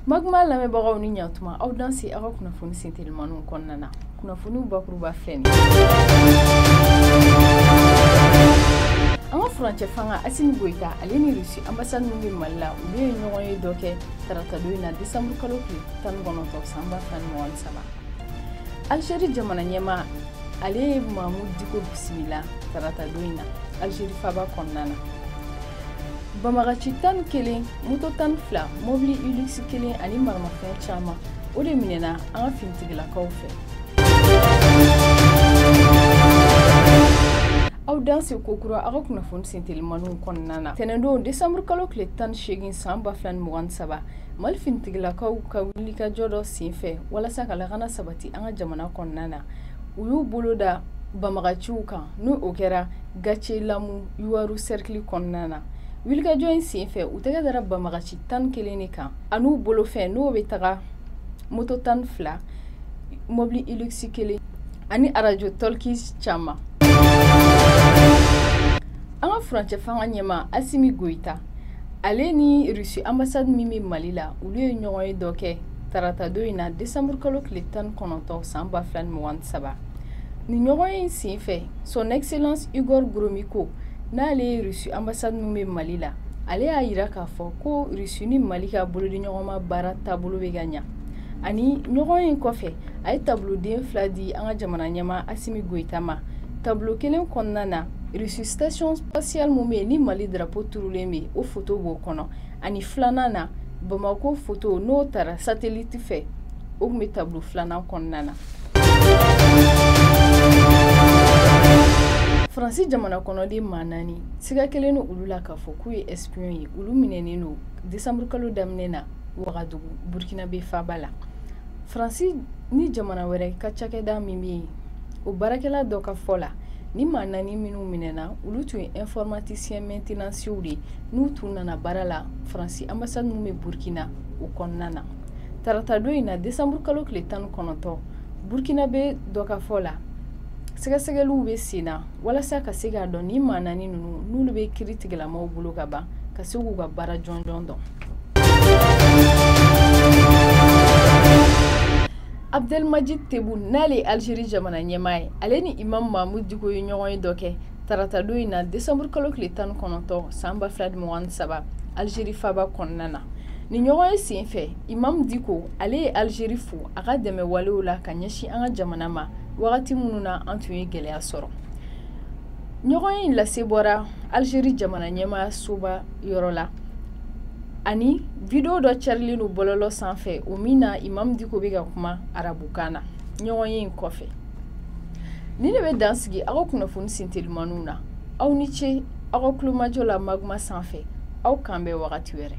Magma lamɛnbagaw ni ɲatuma aw danse aw ka kunnafoni sentelimaniw kɔnɔna na kunnafoniw bakuruba filɛ nin an ka furancɛ fanga asimi goyita ale ni rusi anbasadi min bɛ mali la olu ye ɲɔgɔn ye dɔ kɛ taratadon in na desanburu kalo tile tan ni kɔnɔntɔn san ba fila ni mugan ni saba algérie jamana ɲɛmaa ale ye mahamud diko bisimila taratadon in na algérie faaba kɔnɔna na banbagaci tan kelen moto tan fila mobili hilux kelen ani maramafɛn caman o de minɛna an ka finitigilakaw fɛ aw danse kokura aw ka kunnafoni sentelimaniw kɔnɔna na tɛnɛndon desanburu kalo tile tan ni seegin san ba fila ni mugan ni saba mali finitigilakaw ka wulikajɔ dɔ senfɛ walasa ka lakana sabati an ka jamana kɔnɔna na u y'u bolo da banbagaciw kan n'o kɛra gace lamu yuwaru sɛrikili kɔnɔna na wulikajɔ in sen fɛ u tɛgɛ dara banbagaci tan kelen de kan an'u bolofɛn n'o bɛ taga moto tan fila mobili hilux kelen ani arajo talkies caman an ka furancɛ fanga ɲɛmaa asimi goyita ale ni rusi anbasadi min bɛ mali la olu ye ɲɔgɔn ye dɔ kɛ tarata don in na desanburu kalo tile tan ni kɔnɔntɔn san ba fila ni mugan ni saba nin ɲɔgɔn ye in sen fɛ son excellence igor gromyko n'ale ye rusi ambassade min bɛ mali la ale y'a yira k'a fɔ ko rusi ni mali ka bolodi ɲɔgɔnma baara taabolo bɛ ka ɲa ani ɲɔgɔn ye kɔfɛ a ye tabuloden fila di an ka jamana ɲɛmaa asimi goyita ma tabulo kelen kɔnɔna na rusi station spatiale min bɛ yen ni mali drapo turulen bɛ o foto b'o kɔnɔ ani filanan na Bamakɔ foto n'o tara sateliti fɛ o tun bɛ tabulo filanan kɔnɔna na faransi jamana kɔnɔden maa naani siga kɛlen ni olu la k'a fɔ k'u ye espion ye olu minɛnen don desanburukalo daminɛ na wagadugu burkinabɛ faaba la faransi ni jamana wɛrɛ ka cakɛda min bɛ yen o baarakɛla dɔ ka fɔ la nin maa naani minnu minɛna olu tun ye informatisiyɛn mɛntenansiyew de n'u tun nana baara la faransi anbasadi min bɛ burkina o kɔnɔna na taratadon in na desanburu kalo tile tan ni kɔnɔntɔn burkinabɛ dɔ ka fɔ la sɛgɛsɛgɛliw bɛ sen na walasa ka se k'a dɔn ni maa naani ninnu n'olu bɛ kiri tigilamaw bolo ka ban ka se k'u ka baara jɔnjɔn dɔn abdelmajid tebboune n'ale ye algérie jamana ɲɛmaa ye ale ni imam mahamud diko ye ɲɔgɔn ye dɔ kɛ taratadon in na desanburu kalo tile tan ni kɔnɔntɔn san ba fila ni mugan ni saba algérie faaba kɔnɔna na nin ɲɔgɔn ye sen fɛ imam diko ale ye algérie fo a ka dɛmɛ walew la ka ɲɛsin an ka jamana ma wagati minnu na an tun ye gɛlɛya sɔrɔ ɲɔgɔnye in lase bɔra algérie jamana ɲɛmaaso ba yɔrɔ la ani video dɔ carilen don bɔlɔlɔ sanfɛ o min na imam diko bɛ ka kuma arabukan na ɲɔgɔnye in kɔfɛ nin de bɛ dan sigi aw ka kunnafoni sentelimaniw na aw ni ce aw ka tulomajɔ la maguma sanfɛ aw k'an bɛn wagati wɛrɛ